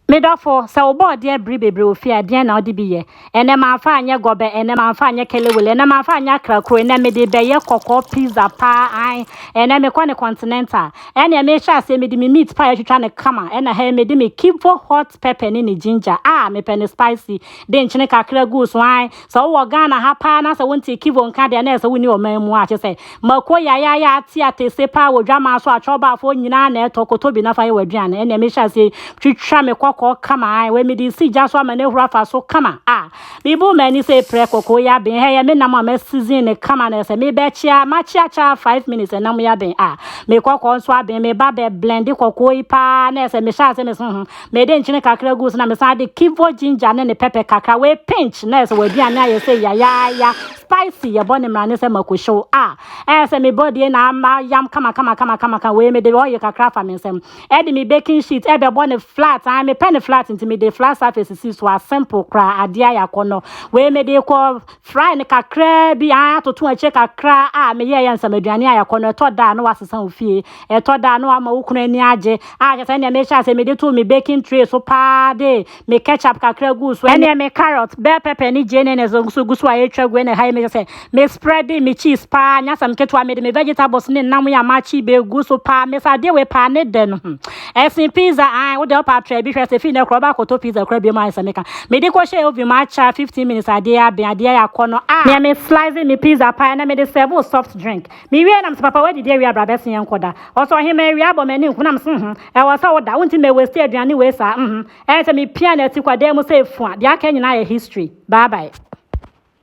Me dɔfo, sɛ wobɔ ɔdeɛ bere bebree wɔ fie a, deɛn na wode bi yɛ? Ɛnnɛ mamfa anyɛ gɔbɛ, ɛnnɛ mamfa anyɛ kelewele, ɛnnɛ mamfa anyɛ akrakuro, ɛnnɛ mede rebɛyɛ kɔkɔɔ pizza paa, ae, ɛnnɛ mekɔ no continental. Ɛnneɛ mehyɛ aseɛ, mede me meat pie atwitwa no kama, ɛnna ha yi mede me kivo hot pepper ne ne ginger, ah, mepɛ no spicy, de nkyene kakra guu so, ae, Sɛ wowɔ Ghana ha paa na sɛ wonte Kivo nka deɛ na ɛsɛ wonni ɔman mu a, kyerɛ sɛ mako yayaaya ate atese paa wɔ dwamaa so akyɔbaafoɔ nyinaa na ɛtɔ kɔtɔ bi na fa yɛ w'aduane ɛnneɛ mehyɛ aseɛ twitwa me kɔkɔɔ kama ae wei mede si gya so ama no ahuru afa so kama a mebu m'ani sɛ prɛ kɔkɔɔ yi aben ha ɛyɛ me nam a masizin ne kama na ɛsɛ mebɛkyea makyeakyea 5 minutes ɛnam yi aben a me kɔkɔɔ nso aben meba bɛ blende kɔkɔɔ yi paa na ɛsɛ mehyɛ ase meso ho Mede nkyene kakra guu so na mesan de kivo ginger ne ne pɛpɛ kakra wɔ a pinch na ɛsɛ w'aduane ayɛ sɛ yayaaya spicy yɛbɔ ne mmara ne sɛ makuhyew a ɛyɛ sɛ me body na ama yam kama kama kama kama ka wei mede oil kakra afa me nsam ɛde me baking sheet ɛbɛbɔ ne flat an mepɛ ne flat nti mede flat surface si so a simple koraa adeɛ ayɛ akɔnɔ wei mede kɔ fry ne kakra bi an atoto akyire kakra a meyɛɛ yɛ nsɛm aduane ayɛ akɔnɔ ɛtɔ da a na wasesa ofie Ɛtɔ da a, na wama wo kunu ani agye. Ah, hwɛ sɛnea mehyɛ ase mede too me baking tray so paa de me ketchup kakra guu so, ɛnna me carrot, bell pepper ne genenes nso gu so a etwa gu, ɛnna ɛha yi mehyɛ sɛ me spreadee me cheese paa, nyɛ asɛm ketewa, mede me vegetables ne nam yi a makye begu so paa, mese adeɛ wei paa ne dɛ no, hmm, ɛsen pizza, ae, wo deɛ wo paa try bi hwɛ, sɛ fii nnɛ koraa wobɛ akɔtɔ pizza koraa biom a, ayɛ sɛ meka. Mede kɔhyɛɛ oven mu akyɛre, fifteen minutes adeɛ aben, adeɛ ayɛ akɔnnɔ, ah! Neɛ me slice me pizza paa, ɛnna mede serve wo soft drink. Mewiee na mese papa wadidi awia bra bɛse yɛnkɔ da Ɔse ɔhemaa awia abɔ m'ani nko na mese hum ɛwɔ sɛ woda wonte mɛ waste aduane wei saa hum ɛɛ sɛ mepia no ati kɔ dan mu sɛ efua deɛ aka nyinaa yɛ history bye bye.